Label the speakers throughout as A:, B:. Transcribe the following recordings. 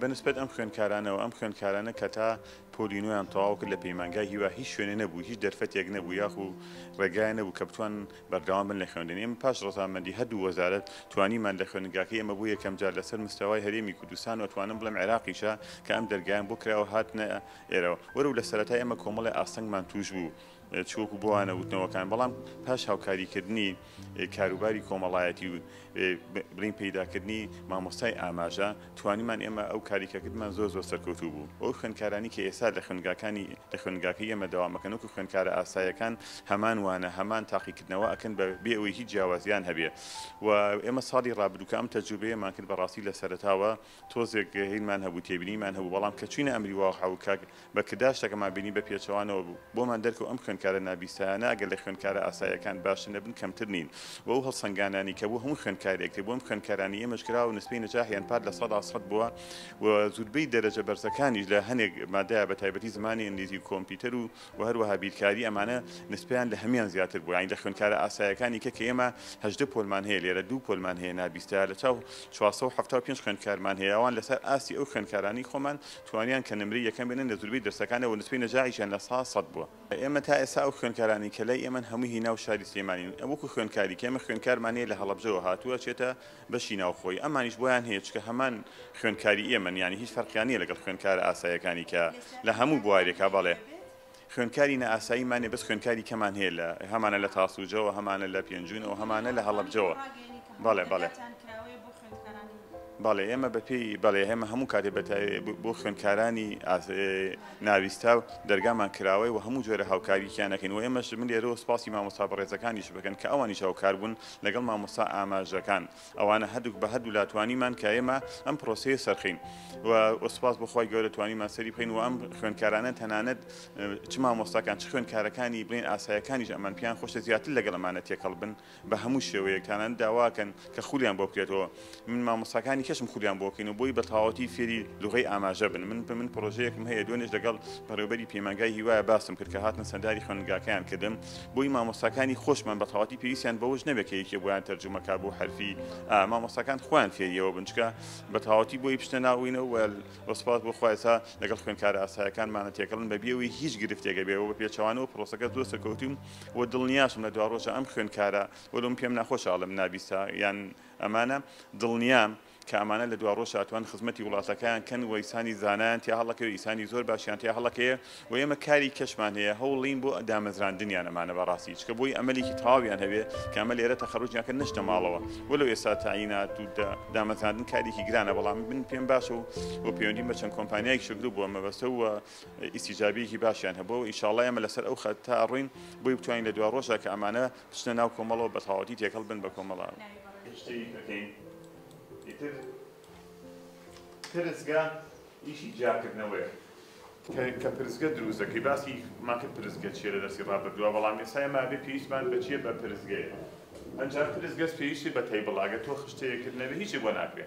A: بە نسبەت ئەم خوێندکارانەوە، ئەم خوێندکارانە کە تا پۆلی نۆیان تەواو کرد لە پەیمانگای هیوا هیچ شوێنێ نەبوو، هیچ دەرفەتێک نەبوو یاخو ڕێگایان نەبوو کە بتوان بەردەوام بن لە خوێندن. ئێمە پاش ڕەزامەندی هەردوو وەزارەت توانیمان لە خوێندنگاکەی ئێمە بۆ یەکەم جار لەسەر مستەوای هەرێمی کوردستان و ئەتوانم بڵێم عێراقیشە کە ئەم دەرگایەم بۆ کراوە هاتنە ئێرەوە. وەرەو لە سەرەتای ئێمە کۆمەڵێ ئاستەنگمان تووش بوو. چ وەکو بۆ وانە وتنەوەکان بەڵام پاش هاوکاریکردنی کاروباری کۆمەڵایەتی و برین پیداکردنی مامۆستای ئاماژە توانیمان ئێمە ئەو کاریکەکردمان زۆر زۆر سەرکەوتوو بوو ئەو خوێندکارانی کە ئێستا لە خوێندگاکانی لە خوێندگاکە ئێمە داوامەکەنەوەکو خوێندکارە ئاسایەکان هەمان وانە هەمان تاقیکردنەوە ئەکەن بە بێ ئەوەی هیچ جیاوازیان هەبێ و ئێمە ساڵی ڕابردووکە ئەم تەجوبەیەمان کرد بەڕاستی لە سەرتاوە تۆزێک هینمان هەبوو تێبینیمان هەبوو بەڵام کە چوینە ئەمری واقع و کاک بەکردار شتەکەمان بینی بە پێچەوانەوە بوو بۆمان دەرکەوت ئەم خوێندکارە نابیستایانە ئەگەر لە خوێندکارە ئاسایەکان باشتر نەبن کەمتر نین و ئەو هەڵسەنگانانی کە بۆ هەموو خوێندکارێک کرد بۆ ئەم خوێندکارانی ئێمەش کراوە نسبەی نەجاحیان پار لە سەدا سەد بووە و زوربەی دەرەجە بەرزەکانیش لە هەنێک مادەیا بە تایبەتی زمانی ئینگلیزی و کۆمپیتەر و و هەروەها بیرکاری ئەمانە نسبەیان لە هەموان زیاتر بوو یانی لە خوێندکارە ئاسایەکانی کە کە ئێمە هەژدە پۆلمان هەیە لێرە دوو پۆلمان هەیە نا بیستە لە چاو چوار سەد و حەفتا و پێنج خوێندکارمان هەیە ئەوان لەسەر ئاستی ئەو خوێندکارانەی خۆمان توانیان کە نمرەی یەکەم بێنن لە زوربەی دەرسەکانەوە نسبەی نەجاحیشیان لە سا سەد بووە. ئێمە تا ئێستا ئەو خوێندکارانەی کە لای ئێمەن هەمووی هی ناو شاری سلێمانین وەکو خوێندکاری کە ئێمە خوێندکارمان هەیە لە هەڵەبجەوە هاتووە ئەچێتە بەشی ناوخۆیی ئەمانیش بۆیان هەیە چونکە هەمان خوێندکاری ئێمەن یانی هیچ فەرقیان نیە لەگەڵ خوێندکارە ئاسایەکانی کە لە هەموو بوارێکا بەڵێ خوێندکاری نائاساییمان نیە بەس خوێندکاری کەمان هەیە لە هەمانە لە تاسوجەوە هەمانە لە پێنجوونەوە هەمانە لە هەڵەبجەوە بەڵێ بەڵێ بەڵێ ئێمە بەپێی بەڵێ هێمە هەموو کاتێ بەتاوێ بۆ خوێندکارانی ناویستا و دەرگامان کراوەی و هەموو جۆرە هاوکاریکیانەکەین و ئێمەش من لێرەوە سپاسی مامۆستا بەڕێزەکانیش بکەن کە ئەوانیش هاوکار بوون لەگەڵ مامۆستا ئاماژەکان ئەوانە هەردووک بە هەردوو لا توانیمان کە ئێمە ئەم پرۆسەیە سەرخین و وەسپاس بخوای گەورە توانیمان سەری بخین و ئەم خوێندکارانە تەنانەت چ مامۆستاکان چ خوێندکارەکانی بڵێن ئاسایەکانیش ئەمان پیان خۆشە زیاتر لەگەڵ ئەمانە تێکەڵ بن بە هەموو شێوەیەکتانان داواکەن کە خولیان بۆ بکرێتەوە من مامۆستاکانی کەشم خولیان بۆکەین و بۆی بەتاوەتی فێری لغەی ئاماژە بن من من پرۆژەیەکم هەیە دوێنێش لەگەڵ بەڕێوبەری پەیمانگای هیوایە باسم کرد کە هاتنە سەرداری خوێندگاکەیان کردم بۆی مامۆستاکانی خۆشمان بەتاوەتی پێویستیان بەوەش نەبێت کە یەکێ بۆیان تەرجومەکە بۆ حرفی ئا مامۆستاکان خوان فێریەوە بنچکە بەتاوەتی بۆی پشتە ناوینە وەل وەسپاس بۆ خوایسا لەگەڵ خوێنکارە ئاسایەکانمانە تێکەڵن بەبیەوەی هیچ گرفتێک بێ و بە پێچەوانەوە پرۆسەکە زۆر سەرکەوتوم و دڵنیاشم لە دواڕۆژە ئەم خوێنکارە وەلۆم پێم ناخۆشە ئەڵم نابیسا یان ئەمانە دڵنیام کە ئەمانە لە دواڕۆژ ئەتوان خزمەتی وڵاتەکەیان کەن و ئیسانی زانایان تیا هەڵەکەی و ئیسانی زۆر باشیان تیا هەڵەکەیە و ئێمە کاری کەشمان هەیە هەوڵین بۆ دامەزراندنیان ئەمانە بەڕاستی چکە بۆی ئەمەلێکی تەواویان هەبێ کە ئەمە لێرە تەخەروجیان کە نەچنە ماڵەوە وەلەو ئێستا تەعینات و دامەزراندن کارێکی گرانە بەڵام من پێم باشە و و پەیوەندیم بە چەند کۆمپانیای شگرو بووە مەبەستە و ئیسیجابیەکی باشیان هەبووە و ئینشاڵڵا ئێمە لەسەر ئەو خەتە ئەڕۆین بۆی بتوانین لە دواڕۆژا کە ئەمانە بچنە ناو کۆمەڵەوە بەتەواوەتی تێکەڵ بن بە کۆمەڵە. گشتیی دەکەین، ئیتر پرسگە ئیشی جیاکردنەوەیە. کە پرسگە دروست دەکەی، باسی مان کرد پرسگە چییە لە دەرسی ڕابردووا، بەڵام ئێستا ئێمە ئەبێ پێویستمان بە چییە؟ بە پرسگەیە. ئەنجا پرسگەش پێویستی بە تەیبڵە، ئەگەر تۆ خشتەیەکت نەبێ هیچت بۆ ناکرێ.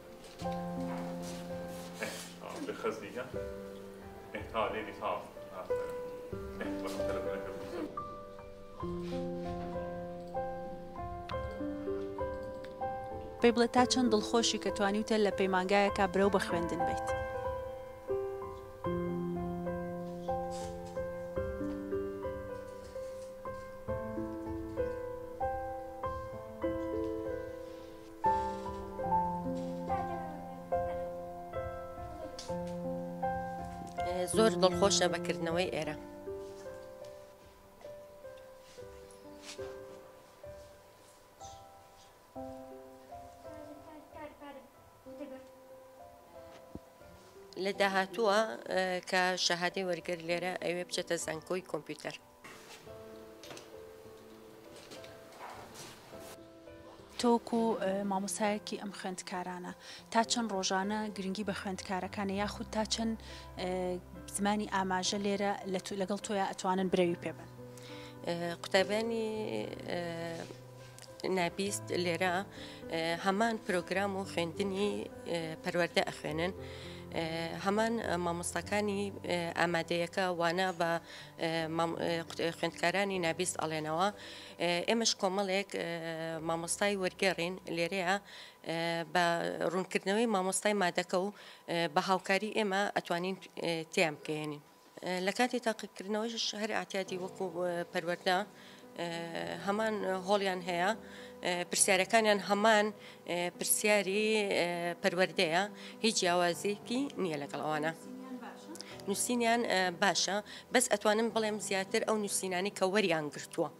B: پێی بڵێ تا چەند دڵخۆشی کە توانیوتە لە پەیمانگایەکە برەو بە خوێندن بیت.
C: زۆر دڵخۆشە بەکردنەوەی ئێرە. لە داهاتووە کە شەهادەی وەرگر لێرە ئەوێ بچێتە زانکۆی کۆمپیوتەر.
B: تۆ وەکو مامۆستایەکی ئەم خوێندکارانە تا چەند ڕۆژانە گرنگی بە خوێندکارەکانە یاخود تا چەند زمانی ئاماژە لێرە لەگەڵ تۆیا ئەتوانن برەوی پێبن قوتابیانی
C: نابیست لێرە هەمان پرۆگرام و خوێندنی پەروەەردە ئەخوێنن هەمان مامۆستاکانی ئامادەیەکە وانا بە خوێندکارانی نابیست ئەڵێنەوە ئێمەش کۆمەڵێک مامۆستای وەرگێڕین لێرەیە بە ڕوونکردنەوەی مامۆستای مادەکە و بە هاوکاری ئێمە ئەتوانین تیان بکەێنین لە کاتی تاقیکردنەوەیش هەر ئەعتیادی وەکو پەروەردە هەمان هۆڵیان هەیە پرسیارەکانیان هەمان پرسیاری پەروەردەیە هیچ جیاوازیکی نییە لەگەڵ ئەوانە. نووسینیان باشە بەس ئەتوانم بڵێم زیاتر ئەو نووسینانی کە وەریان گرتووە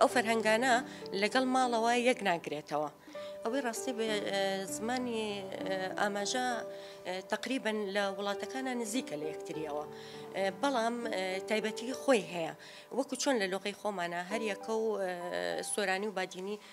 C: ئەو فەرهەنگانە لەگەڵ ماڵەوە یەک ناگرێتەوە. ئەوەی ڕاستی بە زمانی ئاماژە تقریبن لە وڵاتەکانە نزیکە لە یەکتریەوە بەڵام تایبەتی خۆی هەیە وەکو چۆن لە لۆقی خۆمانە هەریەکە و سۆرانی و بادینی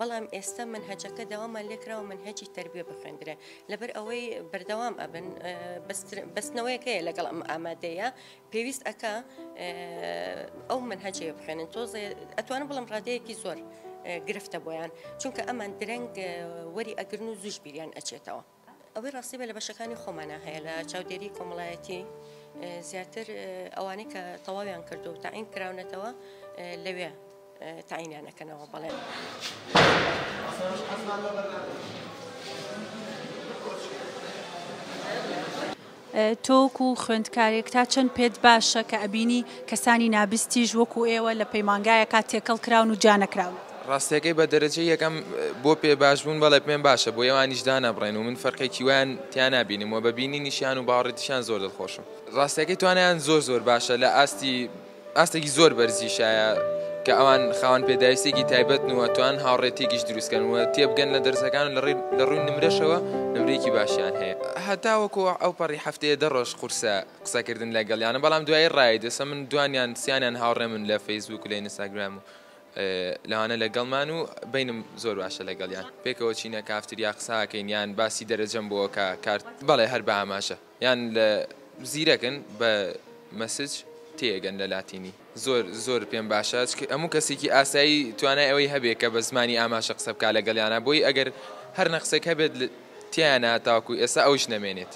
C: بەڵام ئێستا مەنهەجەکە داوامان لێکراوە مەنهەجی تەربیە بخوێندرێ لەبەر ئەوەی بەردەوام ئەبن بەستنەوەیەک هەیە لەگەڵ ئەم ئامادەیە پێویست ئەکا ئەو مەنهەجەیە بخوێنن تۆزێ ئەتوانم بڵم ڕادەیەکی زۆر گرفتە بۆیان چونکە ئەمان درەنگ وەری ئەگرن و زوش بیریان ئەچێتەوە ئەوەی ڕاستی بە لە بەشەکانی خۆمانا هەیە لە چاودێری کۆمەڵایەتی زیاتر ئەوانەی کە تەواویان کرد و تاعین کراونەتەوە لەوێ تاعینیانەکەنەوە بەڵێن.
B: تۆ وەکو خوێندکارێک تا چەند پێت باشە کە ئەبینی کەسانی نابستیش وەکو ئێوە لە پەیمانگایەکا تێکەڵ کراون و جیا نەکراون؟ ڕاستەکەی بە
D: دەرەجەی یەکەم بۆ پێ باش بوون بەڵێ پێم باشە بۆ ئێوانیش دانەبڕێن و من فەرقێکی وایان تیا نابینم و بە بینینیشیان و باوەڕیتیشیان زۆر دڵخۆشم. ڕاستەکەی توانایان زۆر زۆر باشە لە ئاستی ئاستێکی زۆر بەرزیشایە کە ئەوان خاوەن پێداویستێکی تایبەتن و ئەتوان هاوڕێتیکیش دروستکەن و تێبگەن لە دەرزەکان و لە ڕووی نمرەشەوە نمرەیەکی باشیان هەیە هەتاوەکو ئەو پەڕی هەفتەیە دە ڕۆژ قورسە قسەکردن لە گەڵیانە بەڵام دوایی ڕای دەسە من دوانیان سیانیان هاوڕێ من لە فەیسبوک و لە ئینستاگرام و لەوانە لەگەڵمان و بینم زۆر باشە لەگەڵیان پێکەوە چینە کافتریا قساکەین یان باسی دەرەجەم بۆکە کارت بەڵێ هەر بە ئاماژە. یان لە زیرەکن بە مسج تێئەگەن لە لاتینی. زۆر زۆر پێم باشە چکە هەموو کەسێکی ئاسایی توانای ئەوەی هەبێ کە بە زمانی ئاماشە قسە بکا لەگەڵیانا بۆی ئەگەر هەر نەقسێک هەبێت تیایانا تاوەکو ئێستا ئەویش نەمێنێت.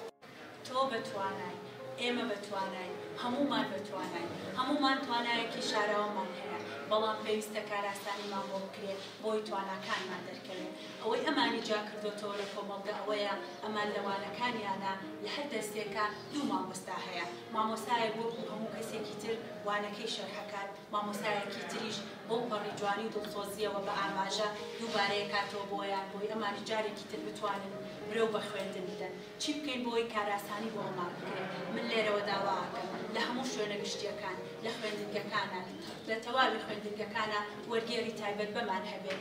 D: تۆ بە توانای، ئێمە بە تواناین، هەموومان بە
B: تواناین، هەموومان توانایەکی شاراوەمان هەیە، بەڵام پێویستە کارئاسانیمان بۆ بکرێ بۆی تواناکانمان دەرکەوێ. ئەوەی ئەمانی جیا کردۆتەوە لە کۆمەڵگە ئەوەیە ئەمان لە وانەکانیانا لە هەر دەرسێکا دوو مامۆستا هەیە مامۆستایەک وەکو هەموو کەسێکی تر وانەکەی شەرحەکات مامۆستایەکی تریش بەو پەڕی جوانی و دڵسۆزیەوە بە ئاماژە دووبارەی ئەکاتەوە بۆیان بۆی ئەمانی جارێکی تر بتوانن برەو بە خوێندن بدەن چی بکەین بۆی کاراسانی بۆ ئەمان بکرێت من لێرەوە داوا ئەکەم لە هەموو شوێنە گشتیەکان لە خوێندنگەکانا لە تەواوی خوێندنگەکانا وەرگێری تایبەت بەمان هەبێت